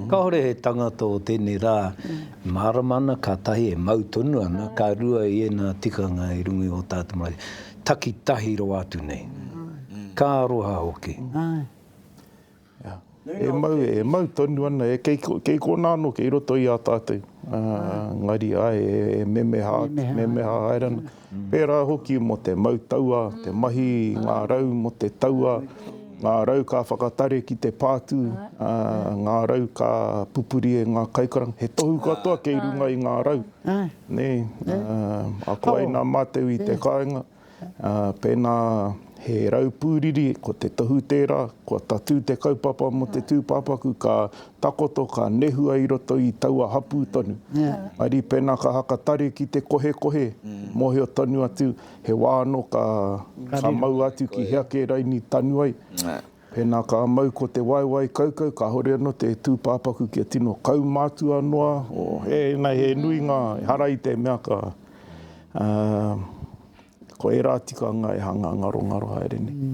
Kahore he tangata o tenei ra e marama ana ka tahi e mau tonu ana, ka rua i ena tikanga i runga i o tatou marae takitahi rawa atu nei. Ka aroha hoki. E mau tonu ana, kei konā anō, kei roto i a tātou. Engari, āe, e memeha atu, memeha haere ana. Pērā hoki mō te mau tauā, te mahi i ngā rau mō te tauā, ngā rau ka whakatare ki te pātū, ngā rau ka pupuri e ngā kaikaranga. He tohu katoa kei runga i ngā rau. Ako ai nā mātou i te kāinga. Pēnā he rau pūriri, ko te tohu tērā, kua tatū te kaupapa mō te tūpāpaku, ka takoto, ka nehua i roto i taua hapū tonu. Mauri pēnā ka haka tare ki te kohekohe, mōhio tonu atu he wā anō ka mau atu ki hea kē raini tanu ai. Pēnā ka mau ko te waewae kaukau kāore anō te tūpāpaku kia tino kaumātua noa, ēnei he nui ngā ehara i te mea ka ko ērā tikanga e hanga ngarongaro haere nei.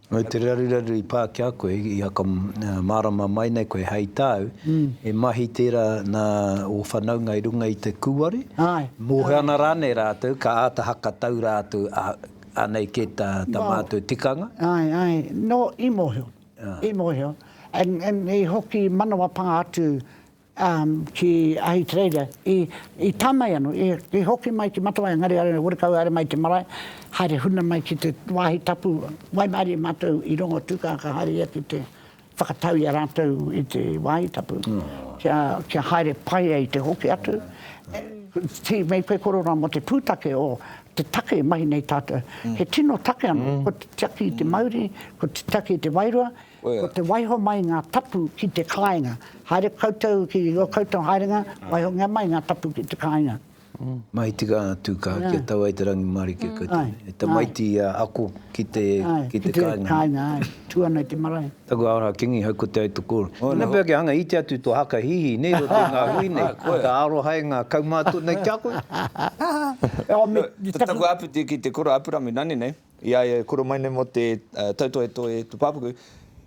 Nō te raruraru i pā ki a koe, i a ka mārama mai nei koe hei tāu, he mahi tērā nā ō whanaunga i runga i te kūware, mōhio ana rānei rātou ka āta hakatau rātou Anei kē tā mātou tikanga. Āe, āe, nō, i mōhio, i mōhio. I hoki manawa pā atu ki Ahitereiria, i tā mai anō, i hoki mai ki Matawai, engari haere horekau, haere mai te marae, haere huna mai ki te wāhi tapu, waimarie mātou i rongo tūkākā, haere ia ki te. Whakatau i a rātou i te wāhi tapu, kia, kia haere pai ai te hoki atu. Tī, mei koe kororā mō te pūtake o te take e mahi nei tātou. He tino take anō, ko te tiaki i te mauri, ko te tiaki i te wairua, ko te waiho mai ngā tapu ki te kāinga. Haere koutou ki ō koutou haerenga, waihongia mai ngā tapu ki te kāinga. Mai tika atu ka kia tau ai te rangimarike koutou nei. He tamaiti ia ako ki te kainga. Kainga ai. Tu ana i te marae. Taku ara kingi hau ko Te Aitokoro. Tena pea kia hanga iti atu to haka hihi nei roto i nga hui nei. Ka aroha e nga kaumatua nei kia koe. Ko taku apiti ki te kura apurami nani nei. I a ia e koro mai nei mō te tautohetohe Te Pāpaku,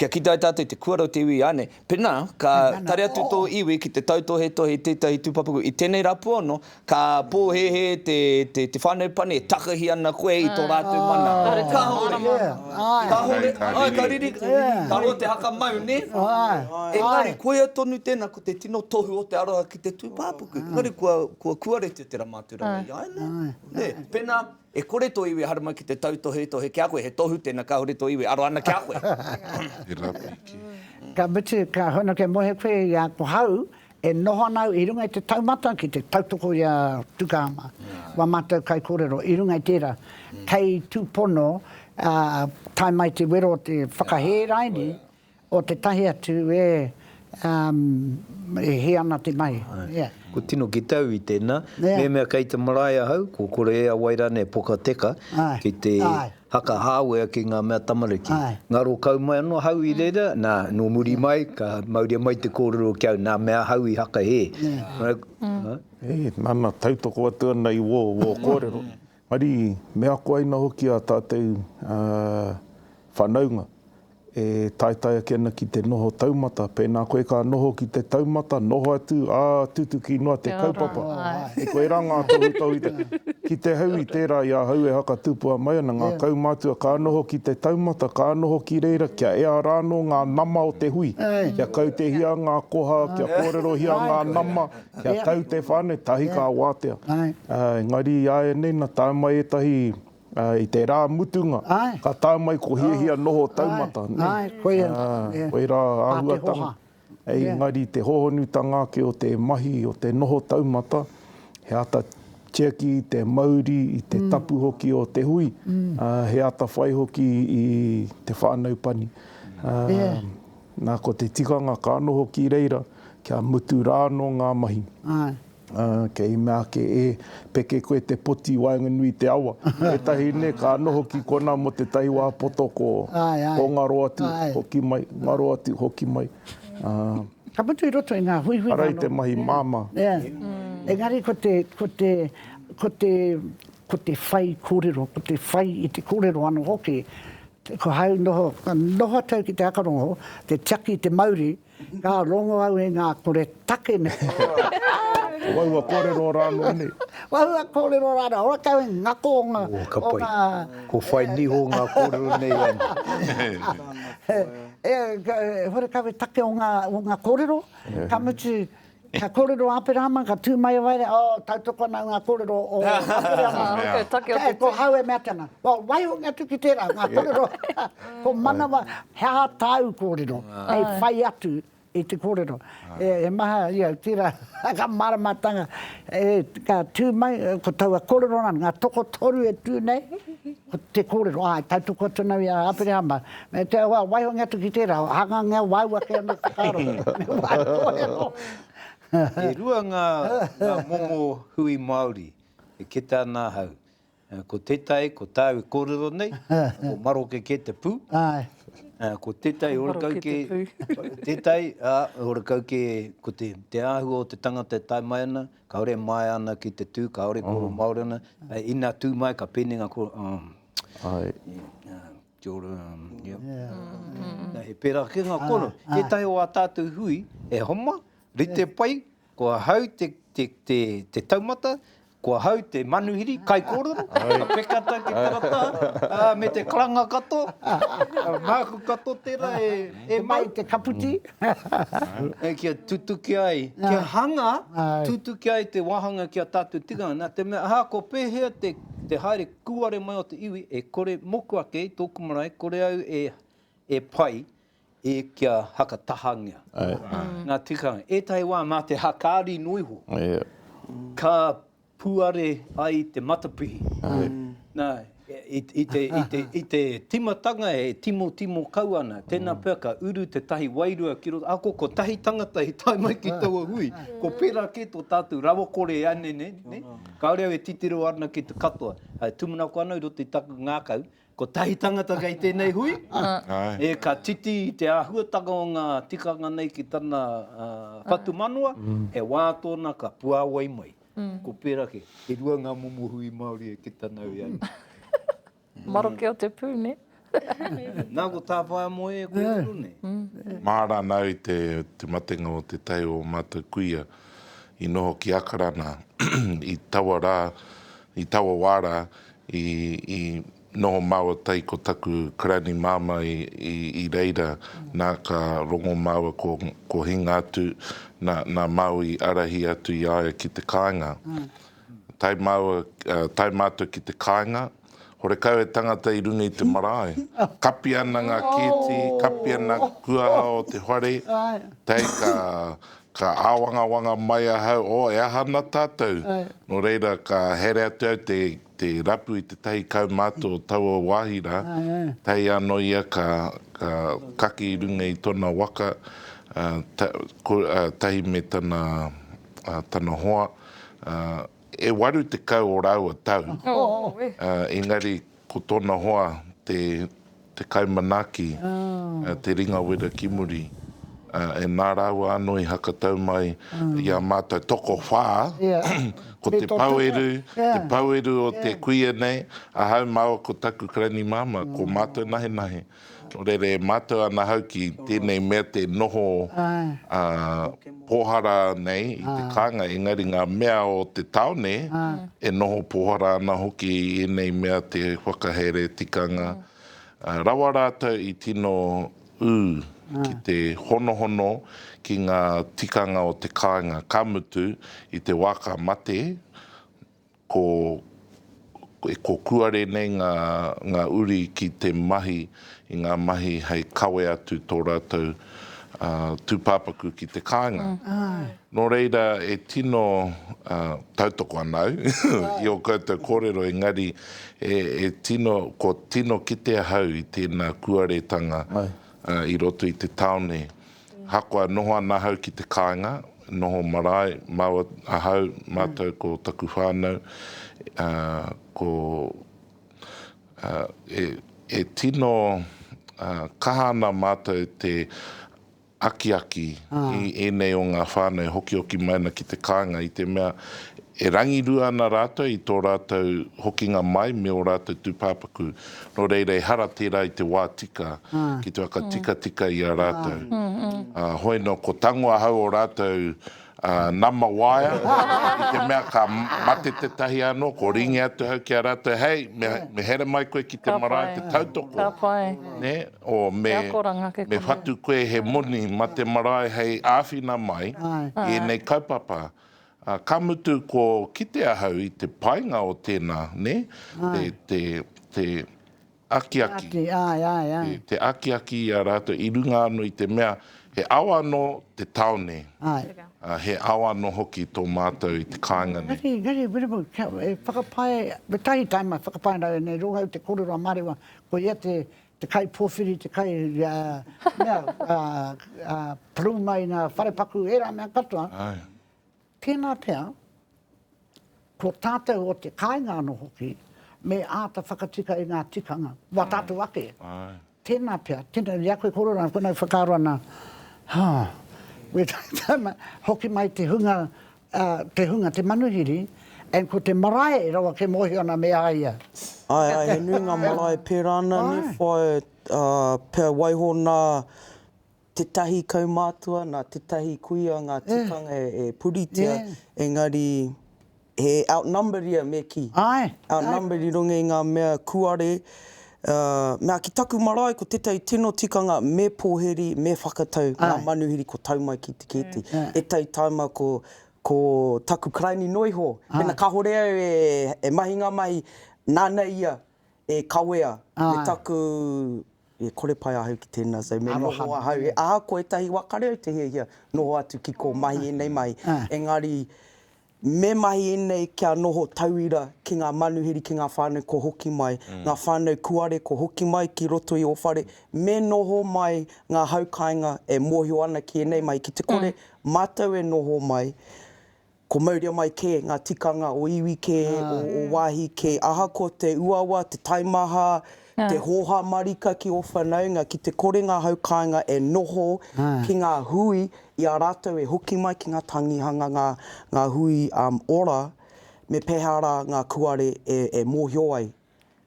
kia kitea tātou i te kuara o te iwi āne. Pēnā, ka tare atu tō iwi ki te tautohetohe i tētahi tūpapaku i tēnei rapua anō, ka pōhēhē te whānau pani e takahi ana koe i tō rātou mana. Kāore, kāore, āe, ka riri, ka roa te haka mau, nē? Engari, koia tonu tēnā, ko te tino tohu o te aroha ki te tūpāpaku. Engari, kua kuaretia tērā mātauranga i a ia, nē? Pēnā. E kore tō iwi haramai ki te tautohetohe ki a koe, he tohu tēnā kāore tō iwi aro ana ki a koe. Ka mutu, ka hono kia mohe koe i a ko hau e noho ana au i runga i te taumata ki te tautoko i a Tukahama, wā mātou kaikōrero i runga i tērā. Kei tūpono tae mai te wero o te whakahē raini, O tetahi atu e um e hi ana te mahi. Yeah. Ko tino ki tau i tena. Yeah. Memea kei te marae ahau, ko kore e a wai ra nei poka teka. Aye. Ki te Aye. Haka hawea ki nga mea tamariki. Aye. Ngaro kau mai ano ahau i reira, na, no muri mai, ka mauria mai te korero ki au, na mea ahau i haka he. Yeah. Right? Mm. Huh? He, nana tautoko atu ana i wo, wo korero. Ari me ako ai na hoki a tatou whanaunga e taetae ake ana ki te noho taumata, pena koe ka noho ki te taumata, noho atu, a tutuki noa te kaupapa. E koera nga tohutohu i te. Ki te hau i tera i ahau e hakatupua mai ana, nga kaumatua ka noho ki te taumata, ka noho ki reira kia ea ra no nga nama o te hui, kia kautehia nga koha, kia korerohia nga nama, Kia tau te whānau, tahi ka wātea. Engari i āianei na tae mai ētahi i te rā mutunga, ka tae mai ko hiahia noho taumata. Koirā āhuatanga. Engari te hohonutanga ake o te mahi, o te noho taumata, he āta tiaki i te mauri, i te tapu hoki o te hui, he atawhai hoki i te whānau pani. Nā, ko te tikanga ka noho ki reira, kia mutu rā anō ngā mahi. Āe. Ā, kei mea ake e, peke koe te poti i waenganui i te awa. Ētahi nē, ka noho ki konā mō tētahi wā poto ko, ko ngaro atu, hoki mai, ngaro atu, hoki mai. Ā. Ka mutu i roto i ngā huihui whano. Ara i te mahi māmā. Ea. Engari ko te, ko te, ko te, ko te whai kōrero, ko te whai i te kōrero anō hoki, Ko hāu noho, noho atu au ki te akarongo, te tiaki i te mauri, ka rongo au i ngā kore take nei. Wahua kōrero rā anō nei. Wahua kōrero rā anō, ora kau i ngako o ngā... Ō, ka pai. Ko whai niho ngā kōrero nei anō. Ora kau i take o ngā kōrero, ka mutu Ka kōrero a Aperahama, ka tū mai a Waere, oh, tautoko ana ngā kōrero o Aperahama. He mea. Take o te tū. Ko hau e mea ake ana, well, waihoki atu ki tērā, ngā kōrero, ko manawa, he aha tāu kōrero hei whai atu i te kōrero. He maha, you know, tērā, ngā māramatanga, ka tū mai, ko taua kōrero nā, ngā tokotoru e tū nei, ko te kōrero, āe, tautoko atu ana i a Aperahama, Me te wā, waiho ngia atu ki tērā, hanga ngia wāu ake anō te whakaaro. Me wāu tōia anō. E rua ngā momo hui Māori e kete ana ahau. Ko tētahi, ko tāu e kōrero nei, ko maroke kē te pū. Ko tētahi horekau kē, tētahi, ā, horekau kē, ko te āhua o te tangata e tae mai ana, kāore e māia ana ki te tū, kāore e kōrero Māori ana, ina tū mai ka pēnei ngā kōrero, ā, Kia ora, ia. Nā, he pērā kē ngā kōrero. Ētahi o ā tātou hui, e homa, rite pai, ko ahau te taumata, ko ahau te manuhiri, kaikōrero, ka peka tau ki tera taha, me te karanga katoa, māku katoa tērā e mau. Te mai, te kaputi. Kia tutuki ai, kia hanga, tutuki ai te wāhanga ki a tātou tikanga, nā te mea, ahakoa pēhea te haere, Kūare mai o te iwi e kore moku ake i tōku marae kore au e e pai e kia hakatahangia ngā tikanga. Ētahi wā mā te hākari noa iho ka puare ai te matapihi. Nā, i i te i te i te timatanga e timotimo kau ana, tēnā pea ka uru tētahi wairua ki roto, ako kotahi tangata i tae mai ki taua hui, ko pērā kē tō tātou rawakore ēnei nei, nē? Kāore au e titiro ana ki te katoa. E tūmanako ana i roto i taku ngākau, kotahi tangata kei tēnei hui, ē, ka titi i te āhuatanga o ngā tikanga nei ki tana whatumanawa, he wā tōna ka puāwai mai. Ko pērā kē, e rua ngā momo hui Māori e kita nau i a ia. Maroke o te pū, nē? Nā, ko Tāwhaeamoe e kōrero nei. Māranau i te matenga o Te Tai o mātou kuia i noho ki Akarana i taua rā, i taua wā rā i noho māua tai ko taku karani māmā i reira, nā ka rongo māua ko Hinga atu, nā Māui i ārahi atu i a ia ki te kāinga. Tae māua, tae mātou ki te kāinga, horekau he tangata i runga i te marae. Kapi ana ngā kēti, kapi ana kuaha o te whare, tae ka, ka āwangawanga mai ahau, oh, e aha ana tātou? Nō reira, ka haere atu au te, te rapu i tētahi kaumātua o taua wāhi rā, tae anō ia ka, ka kake i runga i tōna waka, tahi me tana, tana hoa, e waru tekau o rāua tau, engari ko tōna hoa te kai manaaki, te ringa wera ki muri, ā, nā rāua anō i hakatau mai i ā mātou tokowhā, ko te paueru, te paueru o te kuia nei, ahau māua ko taku karaini māmā, ko mātou nahenahe. Rere mātou ana hau ki tēnei mea te noho pōhara nei i te kānga, engari ngā mea o te tāone e noho pōhara ana hoki i ēnei mea te whakahaere tikanga rawa rātou i tino ū ki te honohono ki ngā tikanga o te kāinga, ka mutu, i te wā ka mate, Ko, ko kuare nei nga, nga uri ki te mahi i nga mahi hei kawe atu to ratou, a, tupapaku ki te kainga. No reira e tino, a, tautoko ana au i o koutou korero engari e, e tino, ko tino kite ahau i tena kuaretanga, a, i roto i te taone. Ahakoa e noho ana ahau ki te kāinga, noho marae, māua ahau, mātou ko taku whānau, ko, e tino kaha ana mātou te akiaki i ēnei o ngā whānau e hokioki mai ana ki te kāinga i te mea e rangirua ana rātou i tō rātou hokinga mai me ō rātou tūpāpaku. Nō reira ehara tērā i te wā tika ki te whakatikatika i a rātou. Ā, hoi nō, ko tango ahau o rātou nama waea, i te mea ka mate tētahi anō, ko ringi atu ahau ki a rātou, Hei, me here mai koe ki te marae te tautoko, nē, ō, me whatu koe he moni mā te marae hei āwhina mai i ēnei kaupapa. Ā, ka mutu ko kite ahau i te painga o tēnā, nē, te, te, te akiaki. Te akiaki, āe, āe, āe. Te, te akiaki i a rātou i runga anō i te mea he ao anō te tāone. Āe. Ā, he ao anō hoki tō mātou i te kāinga nei. Engari, engari, Wiremu, kia, e whakapae, kotahi taim a whakapae rau e nei, rōhau te kōrero a Marewa, koia te, te kaipōwhiri, te kai, ā, mea, ā, ā, parumaina, wharepaku, ērā mea katoa. Ae. Tēnā pea, ko tātou o te kāinga anō hoki, me āta whakatika i ngā tikanga, wā tātou ake. Ae. Tēnā pea, tēnā, i a koe kororā, koe nāu whakaaro ana, ha, me tātou, hoki mai te hunga, a te hunga te manuhiri and ko te marae rawa ke mohio ana me a ia. Ae ae he nui nga marae pera ana ne whae a pea waiho na tetahi kaumatua na tetahi kuia nga tikanga e puritia engari he outnumbered ia me ki outnumbered i runga i nga mea kuare Ā, mea ki taku marae ko tētahi tino tikanga me pōhiri, me whakatau ngā manuhiri ko tau mai ki te kēti. Ētahi taima ko, ko taku karaini noa iho, pēnā kāore au e, e mahi ngā mahi, nāna ia e kawea me taku, e kore pai ahau ki tēnā, so me noho ahau. Ahakoa ētahi wā kare au te hiahia noho atu ki kō mahi ēnei mahi, engari Me mahi ēnei kia noho tauira ki ngā manuhiri, ki ngā whānau kua hoki mai, ngā whānau kūare kua hoki mai ki roto i ō whare, me noho mai ngā hau kāinga e mōhio ana ki ēnei mahi, ki te kore mātou e noho mai, ko mauria mai kē ngā tikanga o iwi kē, o wāhi kē, ahakoa te uawa, te taimaha, te hōhā marika ki ō whanaunga, ki te kore ngā hau kāinga e noho ki ngā hui i a rātou e hoki mai ki ngā tangihanga, ngā hui ora, me pēhea rā ngā kuare e mōhio ai.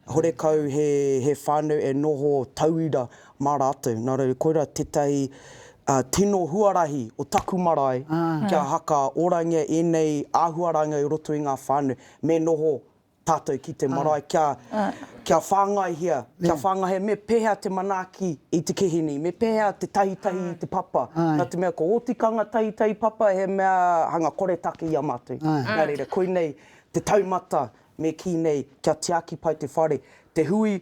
Horekau he whānau e noho tauira mā rātou. Nā reira, koirā tētahi tino huarahi o taku marae kia hakaorangia ēnei āhuaranga i roto i ngā whānau, me noho tātou ki te marae kia, kia whāngaihia, kia whāngaihia me pēhea te manaaki i te kihini, me pēhea te tahitahi i te papa, nā te mea ko ō tikanga tahitahi papa he mea hanga koretake i a mātou. Nā reira, koinei te taumata me kī nei kia tiaki pai te whare, te hui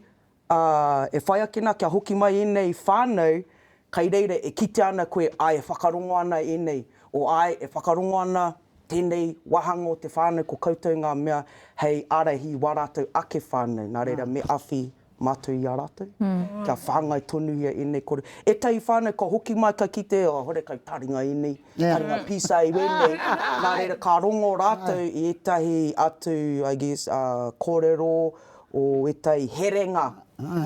Ā, e whai ake nā kia hoki mai ēnei whānau, kai reira e kitea ana koe āe e whakarongo ana ēnei, o āe e whakarongo ana tēnei wāhanga o te whānau ko koutou ngā mea hei ārahi i wā rātou ake whānau. Nā reira, me awhi mātou i a rātou, kia whāngai tonuhia ēnei kore. Ētahi whānau ka hoki mai ka kite, oh, hore kai taringa ēnei, taringa pīsā i wēnei, nā reira ka rongo rātou i ētahi atu, I guess, kōrero o ētahi herenga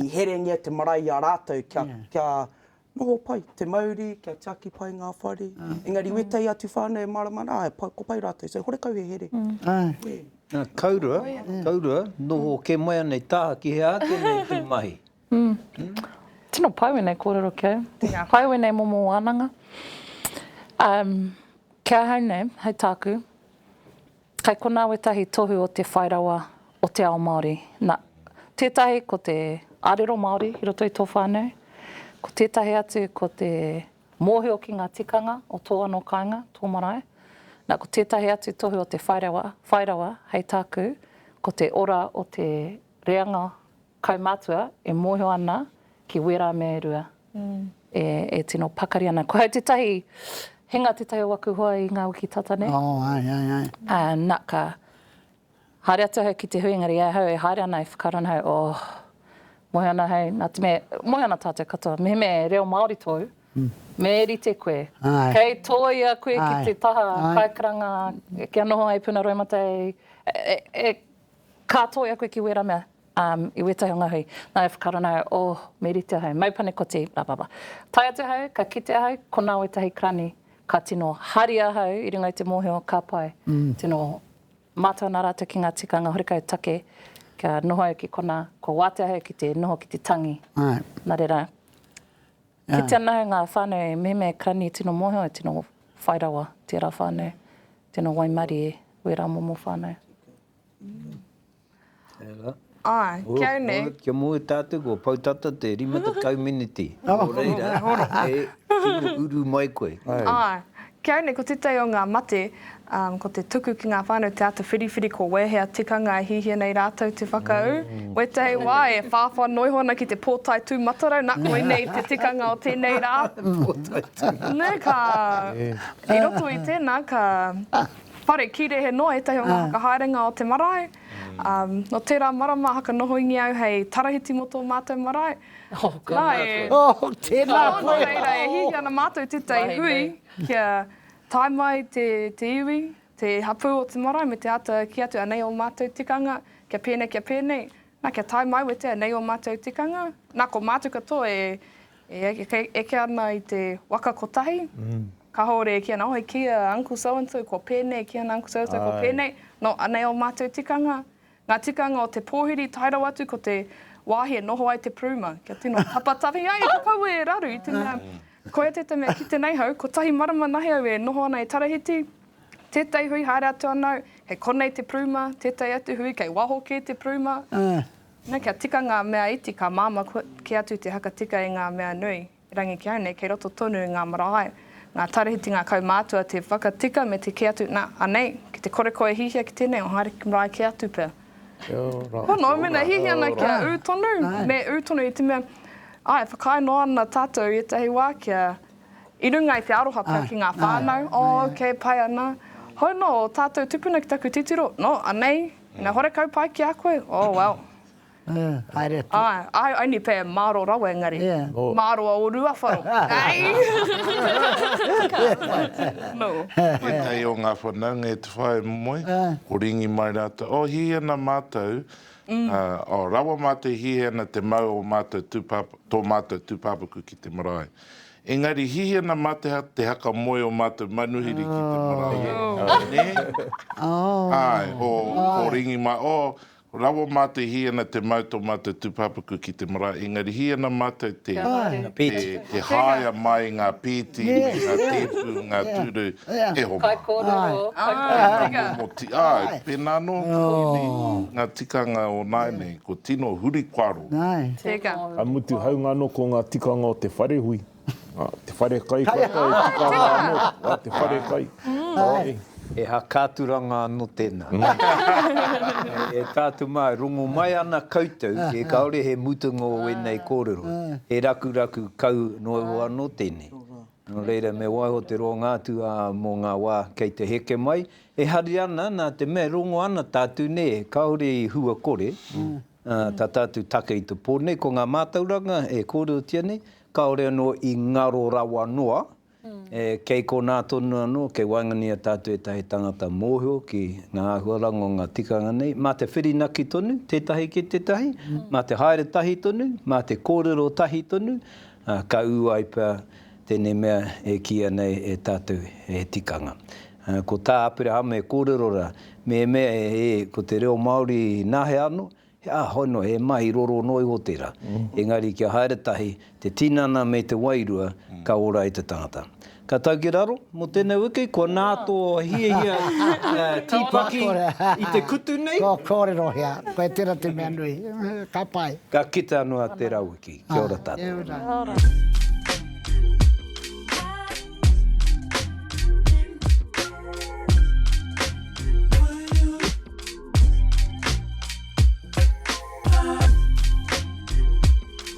i herengia te marae i a rātou kia, kia noho pai te mauri, kia tiaki pai ngā whare. Engari o ētahi atu whānau e mārama ana, āe, ko pai rātou, so horekau he here. Kaurua, kaurua, noho kē mai ana i taha ki hea ake nei tū mahi. Tino pai wēnei kōrero ki au. Tēnā koe wēnei momo wānanga. Ki ahau nei, hei tāku, Kei konā wētahi tohu o te whai rawa o te ao Māori. Na, tētahi ko te. Arero Māori i roto i tō whānau. Ko tētahi atu ko te mōhio ki ngā tikanga o tō anō kāinga, tō marae. Na, ko tētahi atu tohu o te whai rawa, whai rawa, hei tāku, ko te ora o te reanga Kaumatua e mōhio ana ki wērā mea e rua e tino pakari ana. Ko au tētahi, he nga tētahi o aku hoa i ngā wiki tata nei. Oh, ai, ai, ai. Ā, na, ka haere atu ahau ki te hui, engari e ahau e haere ana e whakaaro ana ahau, oh, mōhio ana ahau, nā te mea, mōhio ana tātou katoa, mehemea he reo Māori tōu, me rite koe, kei tōia koe ki te taha kaikaranga, kia noho ai puna roimata e, e, e, ka tōia koe ki wērā mea. Um, i weta he ngahui. Nā, e whakaaro ana au, oh, me rite ahau, mau panekoti, blah, blah, blah. Tae atu ahau, ka kite ahau, konā wētahi karani, ka tino haria ahau i runga i te mōhio, ka pai. Mm. Tino mātau nā rātou ki ngā tikanga horekau take, kia noho au ki konā, kua wātea ahau ki te noho ki te tangi. Ai. Nā reira, Yeah. kite ana ahau ngā whānau mehemea karani e tino mōhio, e tino whai rawa tērā whānau, tino waimarie wērā momo whānau. Āe, kia au nei. Kia moe tātou kua pau tata te rima tekau miniti. Nō reira, e tino uru mai koe. Āe, kia au nei ko tētahi o ngā mate, ko te tuku ki ngā whānau, te āta whiriwhiri ko wēhea tikanga e hihia nei rātou te whakaū. Wētahi wā e whāwhā noiho ana ki te pōtae tūmatarau, nā, koinei te tikanga o tēnei rā. Pōtae tūmatarau. Nē, ka, i roto i tēnā, ka Whare, ki Rehe noa ētahi o ngā whakahaerenga o te marae. Nō tērā marama haka nohoingia au hei tarahiti mō tō mātou marae. Oh, ka mātua. Oh, tēnā koe. Nō reira, e hīhī ana mātou tētahi hui kia tae mai te iwi, te hapū o te marae me te āta kī atu anei ō mātou tikanga kia pēnei, kia pēnei. Na kia tae mauetea nei o matou tikanga, na ko matou katoa e eke ana i te waka kotahi, kahore e ki ana, oh ki a uncle so and so kua penei, ki ana uncle so and so kua penei, no anei o matou tikanga, nga tikanga o te pohiri tae rawa atu ko te wahi e noho ai te puruma, kia tino tapatahi ai ko kaua e raru i te mea koia teta mea kite nei hau, kotahi marama nahe au e noho ana e Tarahiti, Tētai hui haere atu ano, kei konei te pruma, tētai atu hui kei waho kē te pruma. Nō kia tika ngā mea iti ka māmā kē atu te haka tika i ngā mea nui. Erangi ki au nei, kei roto tonu i ngā marae, ngā tarahiti, ngā kaumātua te whakatika me te kē atu, nā, anei, ki te kore koe e hihia ki tēnei, o haere ki marae kē atu pea. Pono, mena hihia ana kia ū tonu, me ū tonu i te mea, āe, whakaae noa ana tātou i ētahi wā kia I runga i te aroha pea ki ngā whānau, oh, ok, pai ana. Hou nō ō tātou tupuna ki taku titiro, nō, anei, me horekau pai ki a koe, oh, well. Haere atu. Āe, I only pay māro rawa engari, māro a ō ruawharo. Tētahi o ngā whanaunga e te whaea momoe, ko Ringi mai rātou, oh, hihi ana mātou, oh, rawa mātou i hihi ana te mau o mātou tūpāpaku, tō mātou tūpāpaku ki te marae. Engari hihena mateha te haka moe o matou manuhiri ki te marae o ne? Ae, o, o Ringi ma, o, rawa matou i hihena te mau to matou tupapaku ki te marae, engari hihena matou te, te, te haea mai nga peti me nga tepu, nga turu, e ho ma. Nga momo ti, ae, pena no, tini, nga tikanga o nae nei. Ko tino huri kua ro. Nāe. Tēnā. Ka mutu haungano ko ngā tikanga o te wharehui, te wharekai kua tae e tika ana anō, wā te wharekai. Nāe. He aha kā turanga anō tēnā. E tātou mā, e rongo mai ana koutou, e kāore he mutunga o ēnei kōrero, he rakuraku kau noa iho anō tēnei. Nō reira, me waiho te roanga atu ā mō ngā wā kei te heke mai. E hari ana, nā te mea e rongo ana tātou, nē, kāore i hua kore, ā, tā tātou take i te pō nei, ko ngā mātauranga e kōrerotia nei, kāore anō i ngaro rawa noa, ē, kei konā tonu anō, kei waenganui i a tātou ētahi tangata mōhio ki ngā āhuaranga o ngā tikanga nei. Mā te whirinaki tonu tētahi ki tētahi, mā te haere tahi tonu, mā te kōrero tahi tonu, Ā, ka ū ai pea tēnei mea e kīia nei e tātou he tikanga. Ā, ko tā Aperahama e kōrero rā, mehemea e, ko te reo Māori nā he ano, he āhoi noa, he mahi roro noa iho tērā. Engari kia haere tahi te tinana me te wairua, ka ora ai te tangata. Ka tau ki raro, mo tenei wiki kua na to hiahia tipaki i te kutu nei. Ko korero hea, koe tera te mea nui. Ka pai. Ka kite ano a tera wiki. Kia ora tatou. Kia ora. Kia ora.